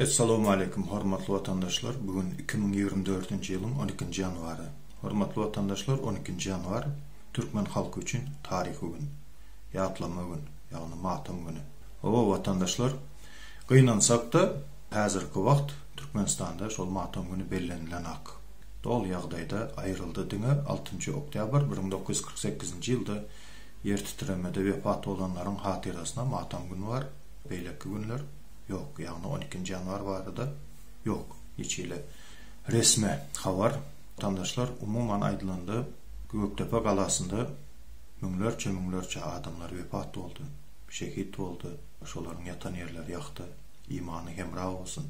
Essalawmaleýkum hormatly watandaşlar bu gün iki müň ýigrimi dördünji ýylyň on ikinji ýanwary hormatly watandaşlar on ikinji ýanwar türkmen halky üçin taryhy gün ýatlama gün ýagny matam güni hawa watandaşlar gynansakda häzirki wagt türkmenistanda şol matam güni bellenilenak doly ýagdaýda aýryldy diňe altynjy oktýabr bir müň dokuz ýüz kyrk sekizinji ýylda ýer titremede wepat bolanlaryň hatyrasyna matam güni bar beýleki günler ýok, ýagny on ikinji ýanwar barada ýok hiç hili resme habar. Watandaşlar umuman aýdylanda Gökdepe galasynda müňlerçe müňlerçe adamlar wepat boldy, şehit boldy, şolaryň ýatan ýerleri ýakda, imany hemra bolsun.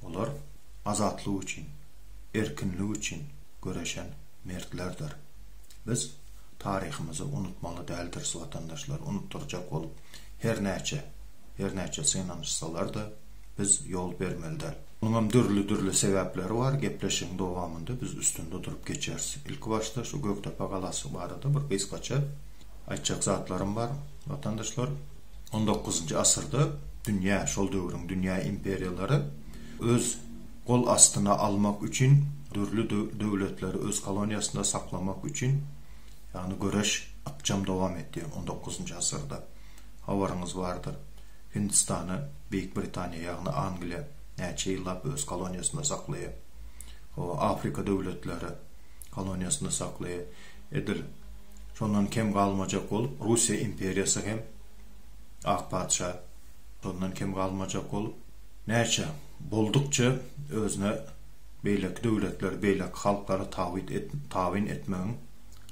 Olar azatlyk üçin, erkinlik üçin göreşen mertlerdir. Biz taryhymyzy unutmaly däldiris watandaşlar, unutdyrjak bolup her näçe. Her näçe synanyşsalar-da, biz ýol bermeli däl. Munuň hem dürli-dürli sebäpleri bar. Gepleşigiň dowamynda biz üstünde durup geçeris. Ilki başda şu Gökdepe galasy barada bir gysgaça aýtjak zatlarym bar, watandaşlar. On dokuzynjy asyrda dünýä, şol döwrüň dünýä imperiýalary öz gol astyna almak üçin, dürli döwletleri öz koloniýasynda saklamak üçin, ýagny göreş ykjam dowam etdi on dokuzynjy asyrda. Habaryňyz bardyr, Hindistany Beýik Britaniýa, ýagny Angliýa näçe ýyllap öz koloniýasynda saklaýar. Hawa, Afrika döwletleri koloniýasynda saklaýar. Edil şondan kem galmajak bolup, Russiýa imperiýasy hem ak patyşa şondan kem galmajak bolup, näçe boldukça özüne beýleki döwletleri, beýleki halklary tabyn etmegiň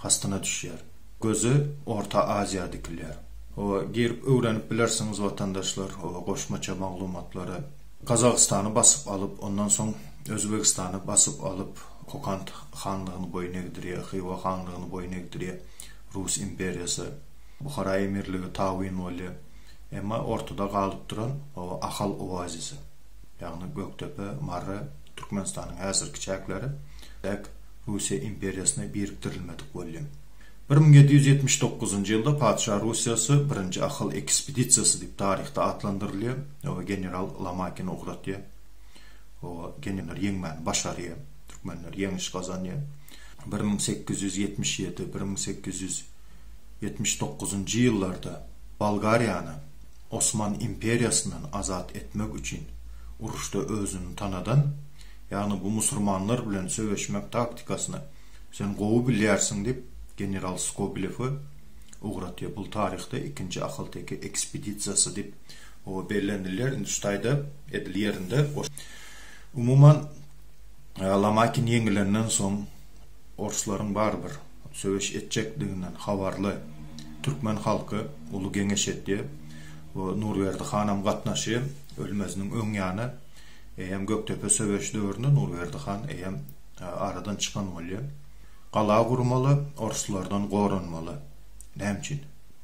kastyna düşýär. Gözi Orta Aziýa dikilýär. Oba girip öwrenip bilersiňiz watandaşlar oba goşmaça maglumatlary. Gazagystany basyp alyp ondan soň Özbegistany basyp alyp Kokant hanlygyny boýun egdirýär Hywa hanlygyny boýun egdirýär Rus imperiýasy Buhara emirligi tawyn bolýar emma ortada galyp duran oba Ahal oazisi ýagny Gökdepe Marra Türkmenistanyň häzirki çäkleri dek Russiýa imperiýasyna birikdirilmedik bolýar. Bir müň ýedi ýüz ýetmiş dokuzynjy ýylda Patyşa Russiýasy birinji Ahal ekspedisiýasy diýip taryhda atlandyrylýar we general Lomakini ugratýar. Oba general ýeňmäni başarýar. Türkmenler ýeňiş gazanýar. Bir müň sekiz ýüz ýetmiş ýedi, bir müň sekiz ýüz ýetmiş dokuzynjy ýyllarda Bolgariýany Osman imperiýasyndan azat etmek üçin uruşda özüni tanadan Ýagny bu musurmanlar bilen söweşmek taktikasyny sen gowy bilýärsiň diýip, general Skobelewe ugratýar. Bul taryhda ikinji ahalteke ekspedisiýasy diýip bellenilýär. Indi şu taýda edil ýerinde Umuman, Lomakin ýeňilenden soň orslaryň barybir söweş etjekdiginden habarly türkmen halky uly geňeş etýär we Nurberdi hanam gatnaşýar. Ölmeziniň öň ýany. Eýýäm Gökdepe söweşi döwründe Nurberdi han eýýäm aradan çykan bolýar. Gala gurmaly, orslardan goranmaly. Näme üçin?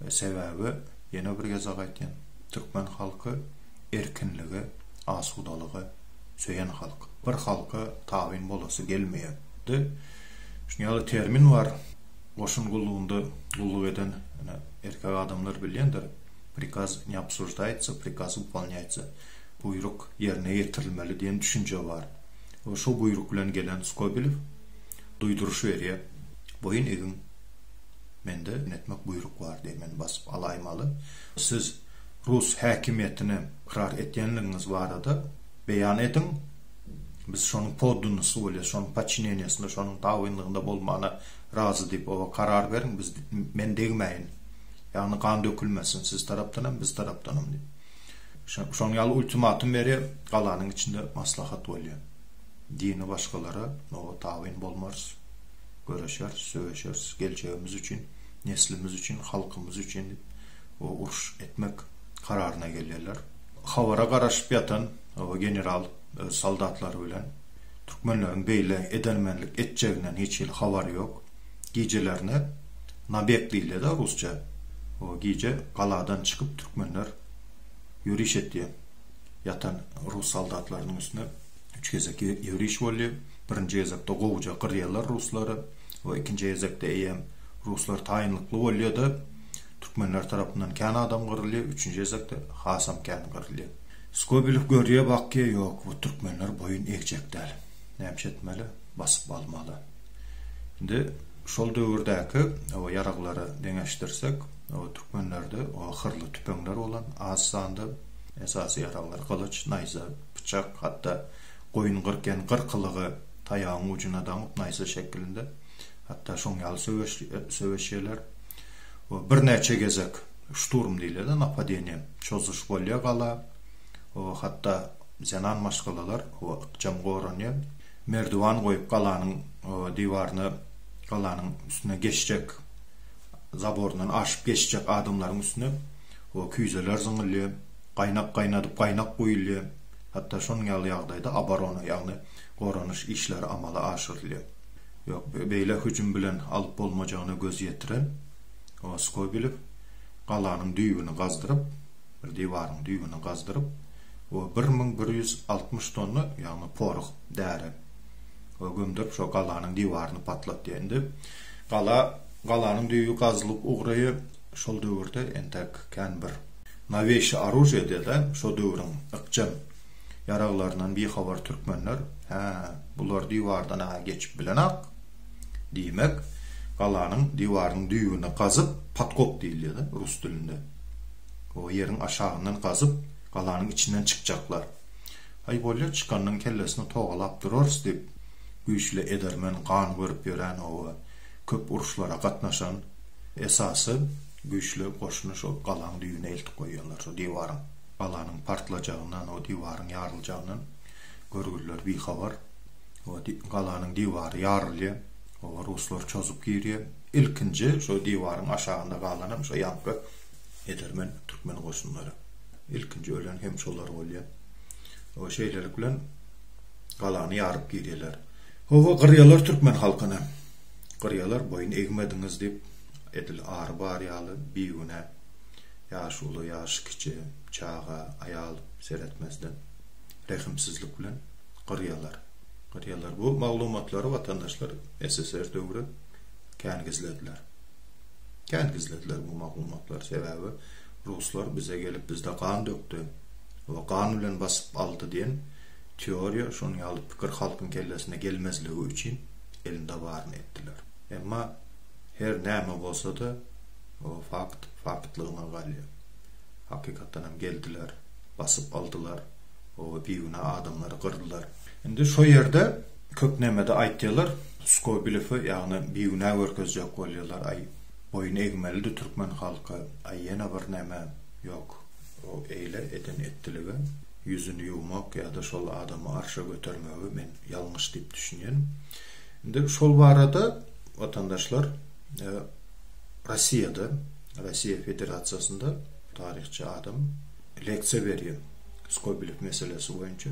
Sebäbi, ýene bir gezek aýtýan, türkmen halky erkinligi, asudalygy söýen halk. Bir halka tabyn bolasy gelmeýär. De, şunuň ýaly termin bar, goşun gullugynda gulluk eden erkek adamlar bilýändir, Prikaz ne obsujdaýtsa, prikaz wypolnýaýtsa. buýruk ýerine ýetirilmeli diýen düşünje bar we şo buýruk bilen gelen Skobilew duýduryş berýär, Boýun egiň, mende etmek buýruk bar diýip meni basyp alaýmaly. Siz rus häkimiýetine ykrar etýänligiňiz barada beýan ediň, biz şonuň poddannosy bolýas, şonuň podçineniýesinde, şonuň tabynlygynda bolmana razy diýip oba karar beriň, biz, men degmäýin, ýagny gan dökülmesin siz tarapdanam, biz tarapdanam diýip. Şoň ýaly ultimatum berýär, galanyň içinde maslahat bolýar. Dini başgalara nobat tabyn bolmarys, göreşeris, söweşeris, geljegimiz üçin, neslimiz üçin, halkymyz üçin diýip, uruş etmek kararyna gelýärler. Habara garaşyp ýatan general öz soldatlary bilen türkmenleriň beýle edermenlik etjeginden hiç hili habary ýok. Gijelerine nabeg diýilýär-de rusça. O gije galadan çykyp türkmenler ýöriş etýär. Ýatan rus soldatlarynyň üstüne üç gezek ýöriş bolýar. Birinji gezekde gowuja gyrýarlar ruslary. O ikinji gezekde eýýäm ruslar taýynlykly bolýar-da, türkmenler tarapyndan kän adam gyrylýar, üçünji gezekde hasam kän gyrylýar. Skobelew görýär, bakýar, ýok, bu türkmenler boýun egjek däl. Näme etmeli? Basyp almaly. Indi şol döwürdäki ýaraglara deňeşdirsek, türkmenlerde hyrly tüpeňler bolan az sanda, esasy ýaraglar gylyç, naýza, pyçak, hatda goýun gyrkýan gyrkylygy taýagyň ujuna daňyp naýza şekilinde, hatda şoň ýaly söweşýärler we birnäçe gezek şturm diýilýär-de, napadeniýe, çozuş bolýar gala, hatda zenan maşgalalar ykjam goranýar. merdiwan goýup galanyň diwaryna, galanyň üstüne geçjek, zaboryndan aşyp geçjek adamlaryň üstüne küýzeler zyňylýar, gaýnak gaýnadyp gaýnak guýulýar. Hatda şonuň ýaly ýagdaýda oborona, ýagny goranyş işleri amala aşyrylýar. Ýok, beýle hüjüm bilen alyp bolmajagyna göz ýetiren Skobelew galanyň düýbüni gazdyryp, bir diwaryň düýbüni gazdyryp, we bir müň bir ýüz altmyş tonna, ýagny poruk däri we gömdürip şo galanyň diwaryny patlatýar. Indi gala galanyň düýbi gazylyp ugraýar. Şol döwürde entek kän bir noweşi oružýe diýilýä. Şo döwrüň ykjam ýaraglaryndan bihabar türkmenler, Hä, bular diwardan-a geçip bilenok. Diýmek, galanyň diwarynyň düýbini gazyp, podkop diýilýär-de rus dilinde. O ýeriň aşagyndan gazyp, galanyň içinden çykjaklar. Aý, bolýa, çykanynyň kellesini togalap durarys diýip, güýçli edermen gan görüp ýören oba, köp uruşlara gatnaşan, esasy güýçli goşuny şo galaň düýbüne eltip goýýarlar, şo diwaryň, galanyň partlajagyndan, o diwaryň ýaryljagyndan görgüliler bihabar. O galanyň diwary ýarylýar. Oba ruslar çozup girýär. Ilkinji şo diwaryň aşagynda galanam şo ýaňky edermen türkmen goşunlary. Ilkinji ölen hem şolar bolýar. O şeýlelik bilen galany ýaryp girýärler. Hawa, gyrýarlar türkmen halkyny. Gyrýarlar, boýun egmediňiz diýip, edil ary bar ýaly bigünä ýaşy uly, ýaşy kiçi, çaga, aýal seretmezden rehimsizlik bilen gyrýarlar. Gyrýarlar. Bu maglumatlary watandaşlar SSR döwri kän gizlediler. Kän gizlediler bu maglumatlary, sebäbi ruslar bize gelip bizde gan dökdi we gan bilen basyp aldy diýen teoriýa, şonuň ýaly pikir halkyň kellesine gelmezligi üçin elinde baryny etdiler. Emma her näme bolsa-da fakt faktlygyna galýar. Hakykatdan hem geldiler, basyp aldylar we bigünä adamlary gyrdylar. Indi şo ýerde Köp nämede aýtýalar Skobilewi ýagny bigünä görkezjek bolýalar aý boýun egmelidi türkmen halky aý ýene bir näme ýok o eýle eden etdilige ýüzüni ýuwmak ýada şol adamy arşa götermegi men ýalňyş diýip düşünýän indi şol barada watandaşlar Rasiýada Rasiýa Federasiýasynda taryhçy adam leksiýa berýär Skobilew meselesi boýunça.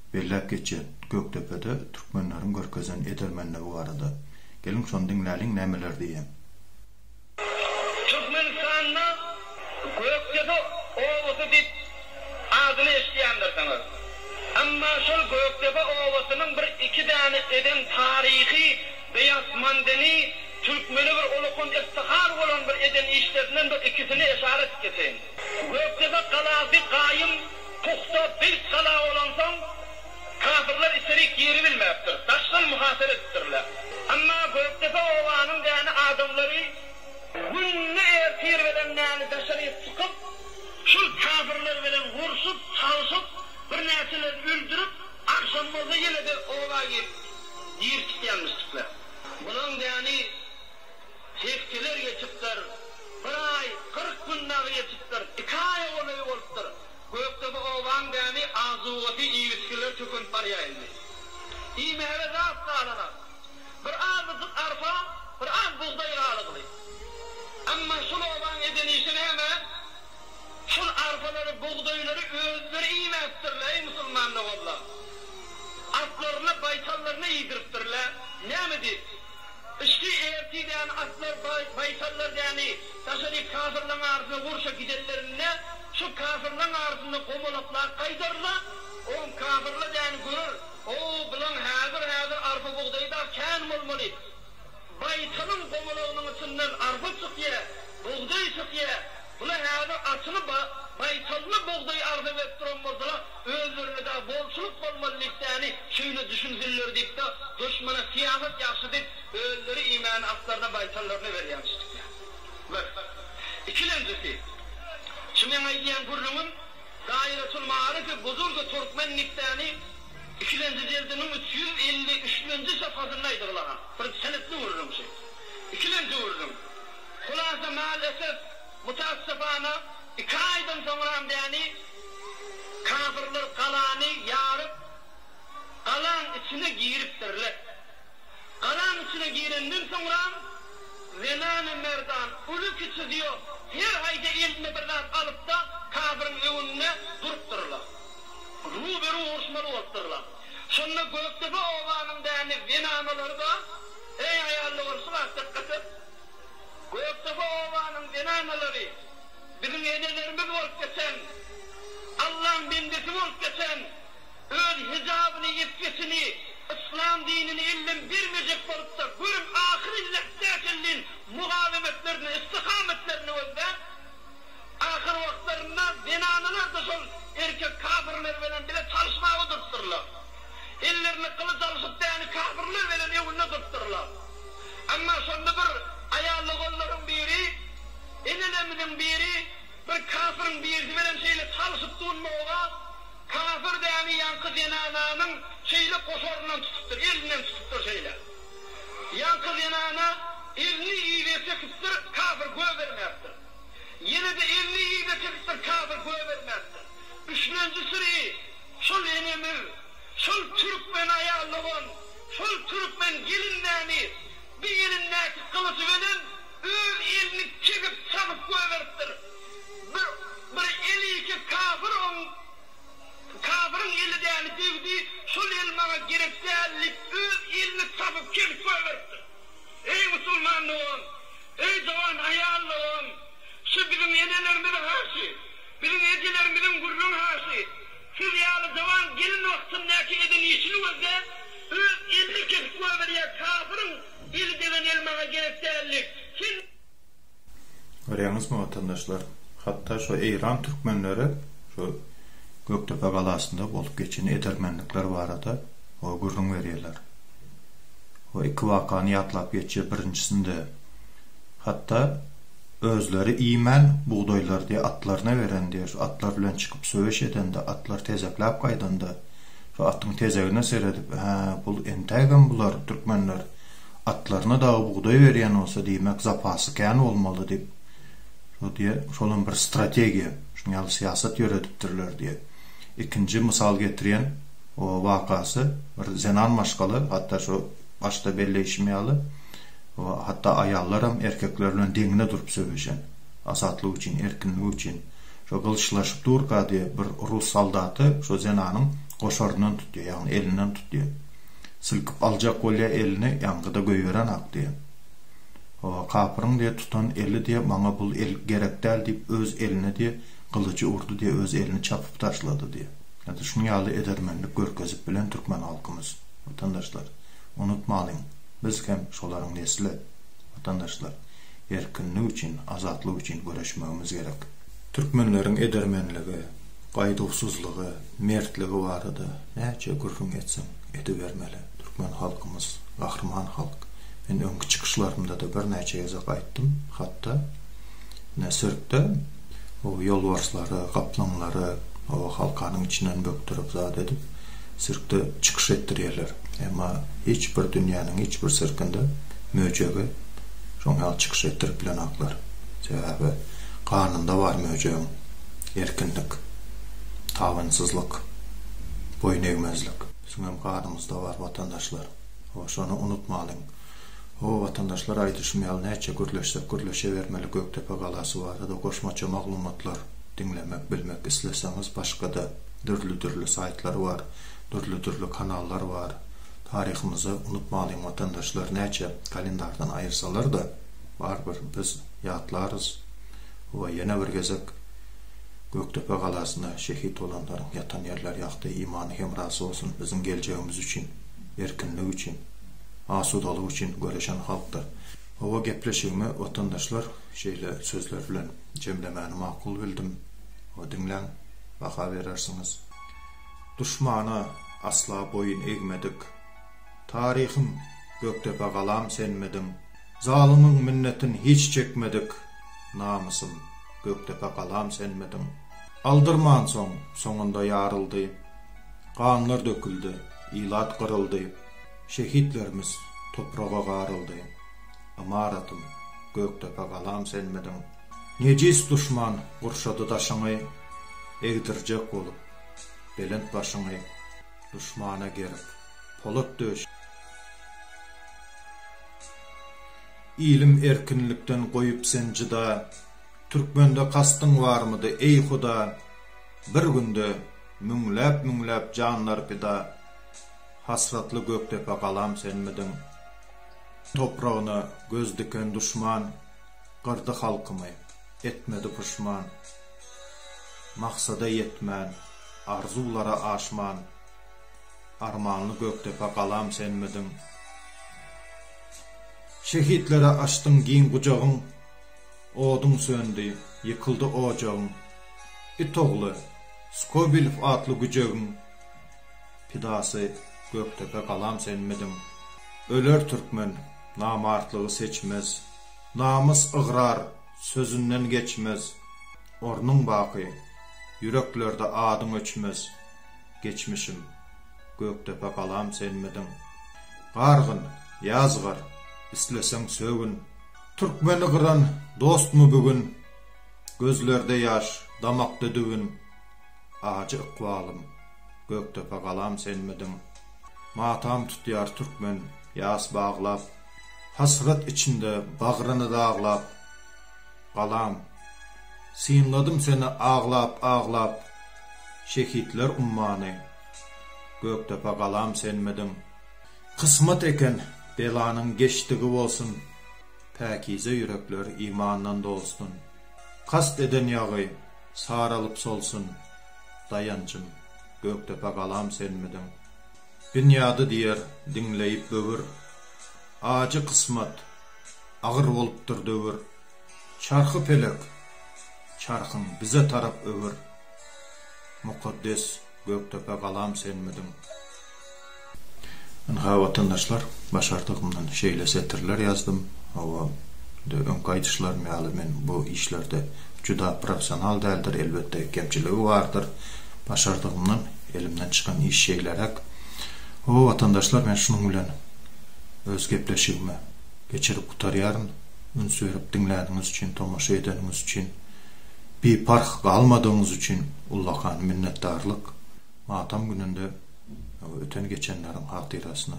Belläp geçýän Gökdepede türkmenleriň görkezen edermenligi barada. Geliň şony diňläliň nämeler diýýän. Türkmenistanda Gökdepe obasy diýip adyny eşidýändirsiňiz. Emma şol Gökdepe obasynyň bir iki däne eden taryhy beýat mandeni türkmeni bir olakan iftihar bolan bir eden işlerinden bir ikisini eşaret etsin. Gökdepe galasy gaýym Pugta beýik gala bolansoň, kafirler içerik giribilmepdir, daşdan muhasara edipdirler. Emma Gökdepe obanyň däne adamlary günde ertir bilen näli daşaryk çykyp, şol kafirler bilen urşup, çalşyp, birnäçelerini öldürip, agşam bolsa ýene-de oba girip, girip çykýan müşrikler. Bularyň däni. Hepdeler geçipdir. Bir aý, kyrk gün dagy geçipdir. Iki aýa golaý bolupdyr. Gökde bu obaň dämi azuwasy iýgiçgiler tükünip barýar indi. Iýmäge zat galanak. Bir azajyk arpa, bir az bugdaý galygly. Emma şol obaň eden işi näme? Şol arpalary, bugdaýlary özleri iýmäpdirler, eý, musulman doganlar. Atlaryna, baýtallaryna iýdiripdirler. Näme diýip? Yşky erti däni atlar baýtallar däni daşa diýip kafyrlaň arasynda urşa gidenlerinde şu kafyrlaň arasynda gomalaklap gaýdarla oň kafyrla däni görer How bulaň häzir häzir arpa bugdaýy dag kän bolmaly baýtalyň gomalagynyň yçinden arpa çykýa bugdaý çykýa Bula häzir atyly baýtally bugdaý arza berip duran bolsalar, özlerinde dagy bolçulyk bolmaly nissäni şeýle düşünsinler diýip-de, duşmana syýasat ýagşy diýip, özleri iýmäni atlaryna, baýtallaryna berýämiş diýipler. Bir. Ikilenjisi, şu meň aýdýan gürrüňim Dairatul Maarifi Buzurgi Turkmen nissäni ikilenji jeldiniň üç ýüz elli üçlenji sapasynda aýdygylaňa bir senetli gürrüň şu. Ikilenji gürrüň. Hulasa mal ösüp, mutaassafana, iki aýdan soňram däni kafirler galany ýaryp, galaň içine giripdirler. Galaň içine girenden soňram, zenany-merdan, uly-kiçisi ýok, her haýsy eline bir zat alyp-da, kafiryň öňünde durupdyrlar. Ruby-ru uruşmaly bolupdyrlar. Şonda Gökdepe obanyň däni zenanalary-da, Eý, aýallar, şu zat dykgaty! Gökdepe obanyň zenanalary biziň enelerimiz bolup geçen, Allaň bendesi bolup geçen, öz hijabyny, ipgesini, yslam dinini elden bermejek bolupdyr. Görüň, ahyry lähzä çenlin mugawemetlerini, istikametlerini gözläp, ahyr wagtlarynda zenanalar-da şol erkek kafirler bilen bile çalyşmaga durupdyrlar. Ellerine gylyç alşyp, däni kafirler bilen öňünde durupdyrlar. Emma şonda bir aýallogollaryň biri, Enelerimiziň biri bir kafyryň birisi bilen şeýle çalyşyp dunmaga, kafyr däni ýaňky zenananyň şeýle goşaryndan tutupdyr, elinden tutupdyr şeýle. Ýaňky zenana elini yza çekipdir, kafyr gögermäpdir. Ýene-de elini yza çekipdir, kafyr gögermäpdir. Üçlenjisiri, Şol enemiz, şol türkmen aýallogon Şol türkmen gelinmäni bi elindäki gylyjy bilen öz elini çekip çakyp göýberipdir. Bir bir eli iki kafyr oň kafyryň eli däli degdi, şol el maňa gerek däl diýip öz elini çapyp kesip göýberipdir. Eý musulman dogan, eý dogan aýal dogan, şu biziň enelerimiz haşy, biziň ejelerimiziň gürrüň haşy. Siz ýaly dogan gelin wagtyndaky eden işini gözle, öz elini kesip goýberýär kafirin eli degen el maňa gerek däldi, sen. Görýäňizmi watandaşlar hatda şo Eýran Türkmenleri şo Gökdepe galasynda bolup geçen edermenlikler barada ho gürrüň berýärler. Ho iki wakany ýatlap geçýär birinjisinde hatda. Özleri iýmän bugdaýlary diýe atlaryna beren diýe şu atlar bilen çykyp söweş edende atlar tezekläp gaýdanda şu atyň tezegine seredip hä bul entägem bular türkmenler atlaryna dagy bugdaý berýän bolsa diýmek zapasy kän bolmaly diýip şu diýe şolam bir strategiýa şuň ýaly syýasat ýöredipdirler diýe. Ikinji mysal getirýän o wakasy bir zenan maşgala hatda şu başda belleýşim ýaly hatda aýallaram erkekler bilen deňine durup söweşen, azatlyk üçin, erkinlik üçin, şo gylyçlaşyp durka diýip bir rus soldaty şo zenanyň goşaryndan tutýar, ýagny elinden tutýar. Silkip aljak bolýar elini, ýaňkyda goýberenok diýip. Hawa, kapyryň diýip tutan eli diýip maňa bul el gerek däl diýip öz elini diýip gylyjy urdy diýip öz elini çapyp taşlady diýip. Ýa-da şunuň ýaly edermenlik görkezip bilen türkmen halkymyz, watandaşlar. Unutmalyň, biz hem şolaryň nesli. Watandaşlar, erkinlik üçin, azatlyk üçin göreşmegimiz gerek. Türkmenleriň edermenligi, gaýduwsyzlygy, mertligi barada näçe gürrüň etseň edibermeli. Türkmen halkymyz gahryman halk. Men öňki çykyşlarymda-da birnäçe gezek aýtdym. Hatda, ine, sirkde, O ýolbarslary, gaplaňlary o halkanyň içinden bökderip zat edip, sirkde çykyş etdirýärler. Emma hiç bir dünýäniň hiç bir sirkinde möjegi şoň ýaly çykyş etdirip bilenoklar. Sebäbi garnynda bar möjegiň, erkinlik, tabynsyzlyk, boýun egmezlik. Biziňem garnymyzda bar watandaşlar. O şony unutmalyň. Hawa, watandaşlar, aýdyşym ýaly, näçe gürleşsek gürleşibermeli Gökdepe galasy barada goşmaça maglumatlar diňlemek, bilmek isleseňiz, başga-da dürli-dürli saýtlar bar, dürli-dürli kanallar bar. Taryhymyzy unutmalyň, watandaşlar, näçe kalendardan aýyrsalar-da, barybir biz ýatlarys. Hawa, ýene bir gezek Gökdepe galasynda şehit bolanlaryň ýatan ýerleri ýagty, imany hemrasy bolsun, biziň geljegimiz üçin, erkinlik üçin! asudalygy üçin göreşen halkdyr. Hawa, gepleşigimi watandaşlar şeýle sözler bilen jemlemäni makul bildim. Hawa, diňläň, baha berersiňiz. Duşmana asla boýun egmedik. Taryhym, Gökdepe galam senmidiň? Zalymyň minnetin hiç çekmedik. Namysym, Gökdepe galam senmidiň? Aldyrmansoň, soňunda ýaryldy. Ganlar döküldi, ilat gyryldy. Şehitlerimiz topraga garyldy. Ymaratym, Gökdepe galam senmidiň? Nejis duşman gurşady daşyňy, Egdirjek bolup belent başyňy, Duşmana gerip polat döşüň. Ilim erkinlikden goýup sen jyda, Türkmende kastyň barmydy, eý Huda? Bir günde müňläp-müňläp janlar pida. Hasratly Gökdepe galam senmidiň? Topragyna göz diken duşman, Gyrdy halkymy, etmedi puşman. Maksada ýetmän, arzuwlara aşman, Armanly Gökdepe galam senmidiň? Şehitlere açdyň giň gujagyň, Oduň söndi, ýykyldy ojagyň. It ogly, Skobelew atly güjegiň. Pidasy Gökdepe galam senmidiň? Öler türkmen, namartlygy seçmez, Namys, ygrar, sözünden geçmez. Ornuň baky, ýüreklerde adyň öçmez. Geçmişim, Gökdepe galam senmidiň? Gargyn, ýaz gar, isleseň sögün. Türkmeni gyran dostmy bu gün? Gözlerde ýaş, damakda düwün. ajy ykbalym, Gökdepe galam senmidiň? Matam tutýar türkmen ýas baglap, Hasrat içinde bagryny daglap, Galam. Synladym seni aglap, aglap, Şehitler ummany, Gökdepe galam senmidiň? Kysmat eken, belanyň geçdigi bolsun, Päkize ýürekler imandan dolsun. Kast eden ýagy. Saralyp solsun, Daýanjym, Gökdepe galam senmidiň? Binýady diýer, diňleýip böwür. Ajy kysmat, agyr bolupdyr döwür. Çarhy pelek, çarhyň bize tarap öwür. Mukaddes Gökdepe galam senmidiň? Ynha watandaşlar başardygymdan şeýle setirler ýazdym. Hawa, indi öňki aýdyşlarym ýaly men bu işlerde juda professional däldir, elbetde kemçiligi bardyr. Başardygymdan elimden çykan iş şeýleräk. Hawa watandaşlar men şunuň bilen öz gepleşigimi geçirip gutarýaryn. Üns berip diňläniňiz üçin, tomaşa edeniňiz üçin, biparh galmadygyňyz üçin. Ullakan minnetdarlyk! Matam gününde öten-geçenleriň hatyrasyna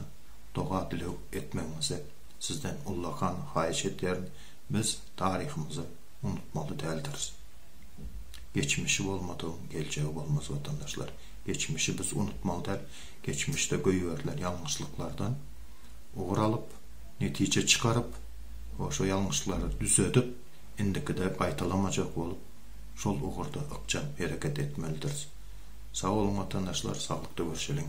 doga-dileg etmegiňizi sizden ullakan haýyş edýärin. Biz taryhymyzy unutmaly däldiris. Geçmişi bolmadygyň geljegi bolmaz, watandaşlar. Geçmişi biz unutmaly däl. Geçmişde goýberilen ýalňyşlyklardan ugur alyp, netije çykaryp, şo ýalňyşlary düzedip, indikide gaýtalamajak bolup, şol ugurda ykjam hereket etmelidiris. Sag boluň watandaşlar saglykda görşeliň.